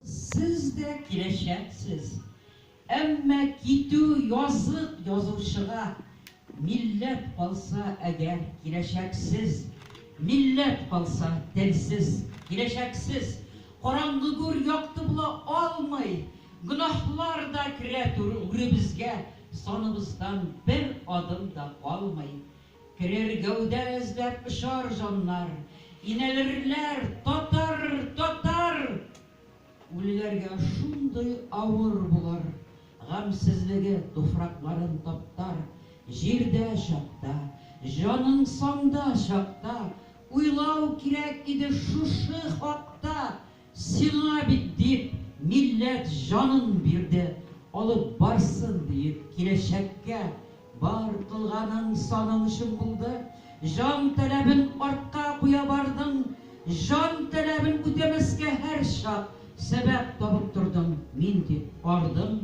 Сез дә киләчәксез. Әмма китү язык язучыга. Милләт калса әгәр киләчәксез. Милләт калса телсез киләчәксез. Караңгы гүр якты була алмый. Гөнаһлар да керә түр үребезгә, саныбыздан бер адым да калмый. Керер гәүдә эзләп очар җаннар, Инәлерләр, Татар! Татар! Үлеләргә шундый авыр булыр, Гамьсезлеге туфракларын таптар. Җирдә чакта, җаның санда чакта, Уйлау кирәк иде шушы хакта, Сиңа бит дип милләт җанын бирде, алып барсын диеп киләчәккә бар кылганың саның өчен булды, җан таләбен артка куя бардың, җан таләбен үтәмәскә һәрчак сәбәп табып тордың, мин дип ардың,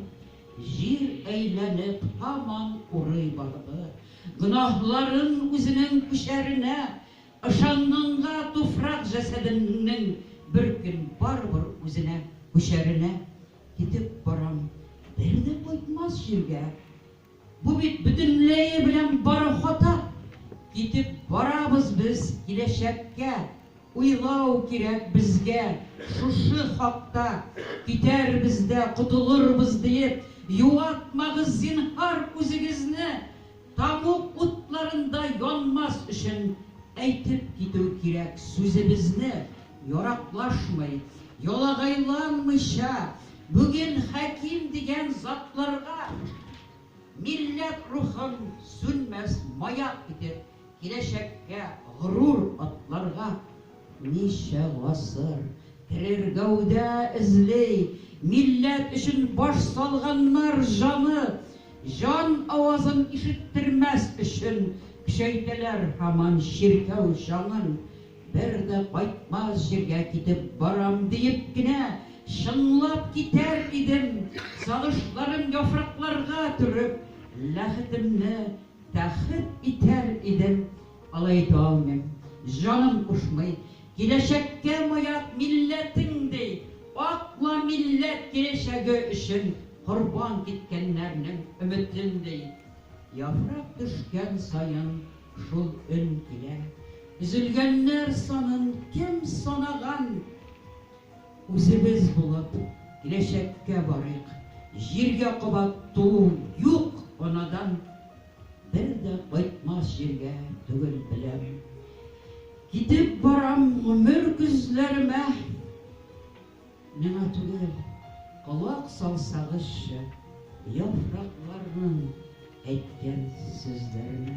җир әйләнеп һаман урый барды, гөнаһларын үзенең күчәренә Ышанганга туфрак җәсәдемнең бер көн барыбер үзенә күчәренә китеп барам, бер дә кайтмас җиргә. Бу бит бөтенләе белән бары хата. Китеп барабыз без киләчәккә, уйлау кирәк безгә шушы хакта, китәрбез дә котылырбыз диеп юатмагыз зинһар үзегезне. Тамуг утларында янмас өчен әйтеп китү кирәк, сүзебезне яраклашмый, ялагайланмыйча, бүген хәким дигән затларга милләт рухын сүнмәс маяк итеп, киләчәккә горур атларга, Ничә гасыр керер гәүдә эзли. Милләт өчен баш салганнар җаны, җан авазын ишеттермәс өчен көчәйтәләр һаман чиркәү чаңын. Бер дә кайтмас җиргә китеп барам диеп кенә чыңлап китәр идем, сагышларым яфракларга төреп, ләхетемне тәхет итәр идем. Алай әйтә алмыйм. Җаным кушмый. Киләчәккә маяк милләтең ди. Атла милләт киләчәге өчен корбан киткәннәрнең өметен ди. Яфрак төшкән саен шул өн килә. Өзелгәннәр санын кем санаган? Үзебез булып киләчәккә барыйк. Җиргә кабат туу юк анадан. Бер дә кайтмас җиргә түгел беләм. Китеп барам гомер көзләремә. Миңа түгел, колак салсагызчы яфракларның әйткән сүзләренә.